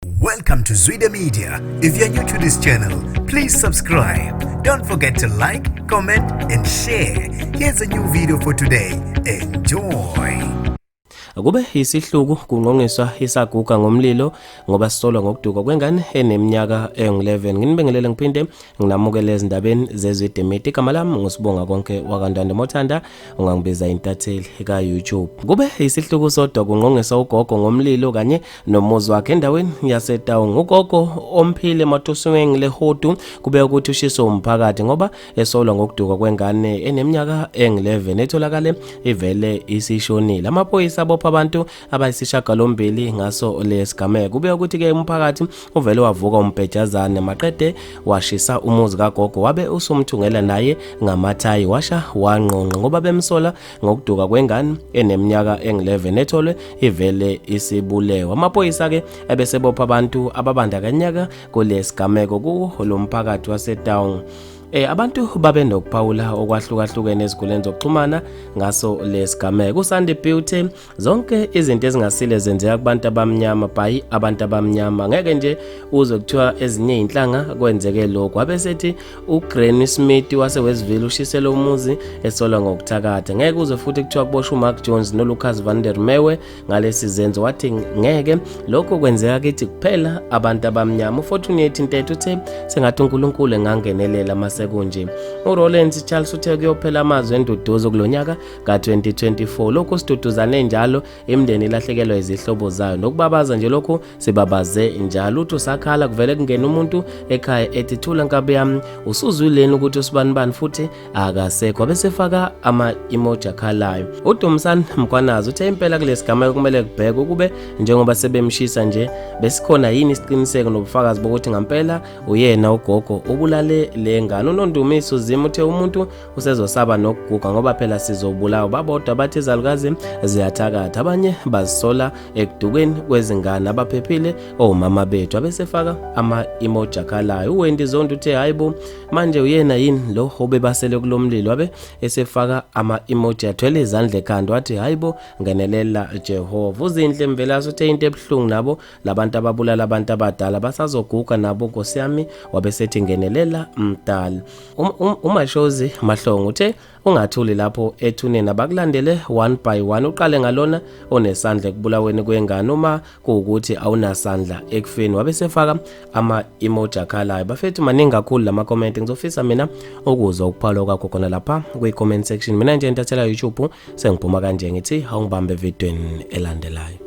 Welcome to Zwide Media. If you're new to this channel, please subscribe. Don't forget to like, comment and share. Here's a new video for today. Enjoy. Kube isihluku kungqongiswa isaguga ngomlilo ngoba sisolwa ngokuduka kwengane eneminyaka engu-11. Nginibingelele ngiphinde nginamukele ezindabeni zezwe Demeti. Igama lami ngusibonga konke wakandwande Mothanda ungangibiza intatheli ka-YouTube. Kube isihluku sodwa kungqongiswa ugogo ngomlilo kanye nomuzi wakhe endaweni yasetaung ugogo omphile matusiweng lehodu kube ukuthi ushiso umphakathi ngoba esolwa ngokuduka kwengane eneminyaka eng-11 etholakale ivele isishonile amaphoyisa abopha abantu abayisishagalombili ngaso lesigameko kube ukuthi-ke umphakathi uvele wavuka umbhejazane maqede washisa umuzi kagogo wabe usumthungela naye ngamathayi washa wangqongqa ngoba bemsola ngokuduka kwengane eneminyaka engu-11 etholwe ivele isibulewa amaphoyisa-ke ebesebopha abantu ababandakanyaka kulesigameko kuwo lo mphakathi wasetown Eh abantu babe nokuphawula okwahlukahlukene eziguleni zokuxhumana ngaso lesigameko uSandy Beauty zonke izinto ezingasile zenzeka kubantu abamnyama by abantu abamnyama ngeke nje uzwe kuthiwa ezinye izinhlanga kwenzeke lokho abe sethi uGranny Smith wase Westville ushisele umuzi esolwa ngokuthakatha ngeke uzwe futhi kuthiwa kuboshwa uMark Jones noLucas van der Merwe ngalesi zenzo wathi ngeke lokho kwenzeka kithi kuphela abantu abamnyama uFortunate Ntethe uthe sengathi uNkulunkulu engangenelela masekunje uRollins Charles uthe kuyophela amazwi enduduzo kulonyaka ka-2024 lokhu siduduzane njalo imndeni ilahlekelwa izihlobo zayo nokubabaza nje lokhu sibabaze njalo uthi usakhala kuvele kungena umuntu ekhaya ethi thula nkabi yami usuzwileni ukuthi usibanibani futhi akasekho abesefaka ama-emoji akhalayo udumisani mkwanazi uthe impela kulesi gama kumele kubhekwe ukube njengoba sebemshisa nje besikhona yini isiqiniseko nobufakazi bokuthi ngampela uyena ugogo ubulale le ngane unondumisa uzima uthe umuntu usezosaba nokuguga ngoba phela sizobulawa babodwa bathi izalukazi ziyathakatha abanye bazisola ekudukeni kwezingane abaphephile omama bethu abesefaka ama-emoji akhalayo uwendi zondi uthe hhayi bo manje uyena yini lo obebasele kulo mlilo abe esefaka ama-emoji athwele izandla ekhanda wathi hhayi bo ngenelela jehova uzinhle mvelase uthe into ebuhlungu nabo labantu ababulala abantu abadala basazoguga nabo nkosi yami wabesethi ngenelela mdala um, um, umashozi um, mahlongo uthe ungathuli lapho ethuneni abakulandele one by one uqale ngalona onesandla ekubulaweni kwengane uma kuwukuthi awunasandla ekufeni wabesefaka ama emoji akhalayo bafethu maningi kakhulu lama comment ngizofisa mina ukuzwa ukuphalwa kwakho khona lapha kwi comment section mina nje ntathela YouTube sengiphuma kanje ngithi awungibambe evidweni elandelayo